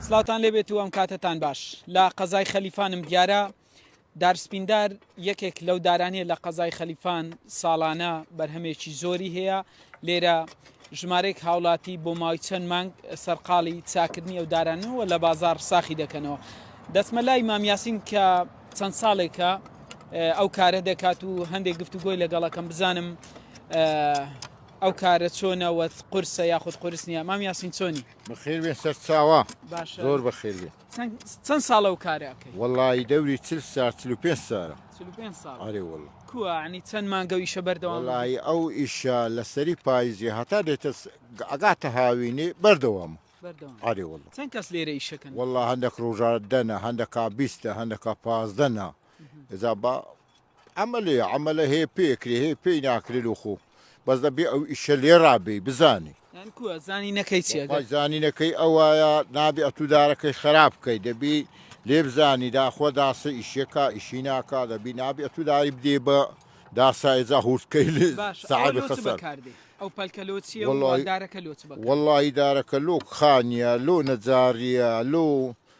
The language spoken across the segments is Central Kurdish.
سلاوان لێبێت و ئەم کاتتان باش لە قەزای خەلیفانم دیارە دارسپیندار یەکێک لەو دارانیە لە قەزای خەلیفان ساڵانە بەرهەمێکی زۆری هەیە لێرە ژمارەیەک هاوڵاتی بۆ ماوەی چەند مانگ سەرقاڵی چاکردنی ئەو دارانەوە لە بازار ساخی دەکەنەوە دەسمە لای مامیاسین کە چەند ساڵێکە ئەو کارە دەکات و هەندێک گفتوگۆی لەگەڵەکەم بزانم ئەو کارە چۆنەوە قرسە یاخود قرس نیە مام یاسین چۆنی بەخێر بێ سەر چاوە زۆر بەخێر بێت چەن ساڵە ئەو کارە ئەکەی. وەڵایی دەوری چل سار چل و پێنج سارە. چل و پێنج ساڵە. ئەرێ وەڵا. کووە یانی چەن مانگە ئەو ئیشە بەردەوام بی. وەڵایی ئەو ئیشە لە سەری پایزی هەتا دێتە ئەگاتە هاوینی بەردەوامە. بەردەوام. ئەرێ وەڵا. چەن کەس لێرە ئیشەکەن. وەڵا هەندەک ڕۆژا دەنە هەندەکا بیستە هەندەکا پازدەنە ئێجا با عەمەلێ عەمەلە هەیە پێ ئەکرێ هەیە پێی ناکرێ لۆ خۆ بەس دەبێ ئەو ئیشە لێڕا بێی بزانی. یانی کووە زانینەکەی چیە گەر. وەڵای زانینەکەی ئەوایە نابێ ئەتوو دارەکەی خەراپ بکەی دەبی لێ بزانی داخوا داسە ئیشیەکا ئیشی ناکا دەبی نابێ ئەتوو داری بدەی بە داسا ئێجا هورد کەی لێ باشە ئەوە سەعەبی لۆ چ خەسار بەکار دێ ئەو پەلکە لۆ چیە و وەڵای دارەکە لۆ چ بەکار دێ. وەڵایی دارەکە لۆ کخانیە لۆ نەجاڕیە لۆ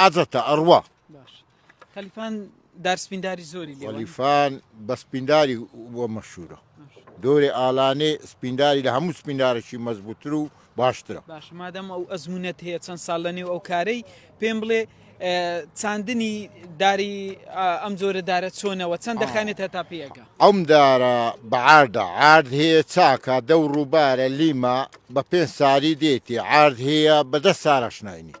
عادەتە ئەڕوا خەلیفان دارسپینداری زۆری خەلیفان بە سپینداری بۆ مەشورە دۆری ئالانێ سپینداری لە هەموو سپیندارێکی مەزبووتر و باشترە باش مادەم ئەو ئەزمونەت هەیە چەند ساڵ لە نێو ئەو کارەی پێم بڵێ چاندنی داری ئەم جۆرە دارە چۆنەوە چەند دەخانێت هەتا پێەکە ئەم دارە بەعاردە عرد هەیە چاکە دە ڕووبارە لیما بە پێ ساری دێتی عرد هەیە بەدە سارەشناینیت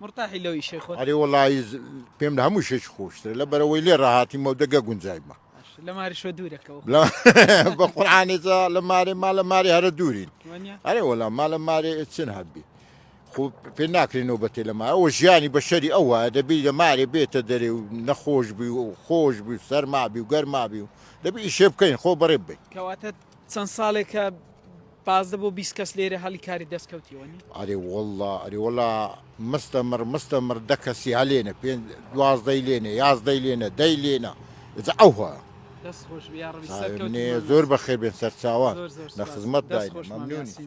مرتاحی لەو ئیشەی خۆت؟ ئەرێ وەڵایی پێم لە هەموو شتێکی خۆشترە لە بەرەوەی لێ ڕاهاتیمەو دە گە گونجایمە. باشە لە ماری شۆ دوورە کە وە. بە قورعانی جا لە مارێ ما لە مارێ هەرە دوورین. وەنیا؟ ئەرێ وەڵا ما لە مارێ چن هەبی. خۆ پێ ناکرێ نۆبەتێ لە ما ئەوە ژیانی بە شەری ئەو وایە دەبی لە مارێ بێتە دەرێ و نەخۆش بی و خۆش بی و سەرما بی و گەرما بی و دەبی ئیشێ بکەین خۆ بەڕێ بین. کەواتە چەند ساڵێکە پازدە بۆ بیست کەس لێرە هەڵی کاری دەست کەوتیەوە نی؟ ئەرێ وەڵڵا ئەرێ وەڵا مستەمڕ مستەمڕ دە کەسی هەلێنە پێ دوازدەی لێنە یازدەی لێنە دەی لێنە جا ئەوها دەست خۆش بێ یا ڕەبی سەرکەوتوو منێ بمان زۆر لەسەر. بەخێر بێن سەرچاوان زۆر زۆر لە سوپاس. خزمەت دەست داین خۆش مام مەمنونی یاسین.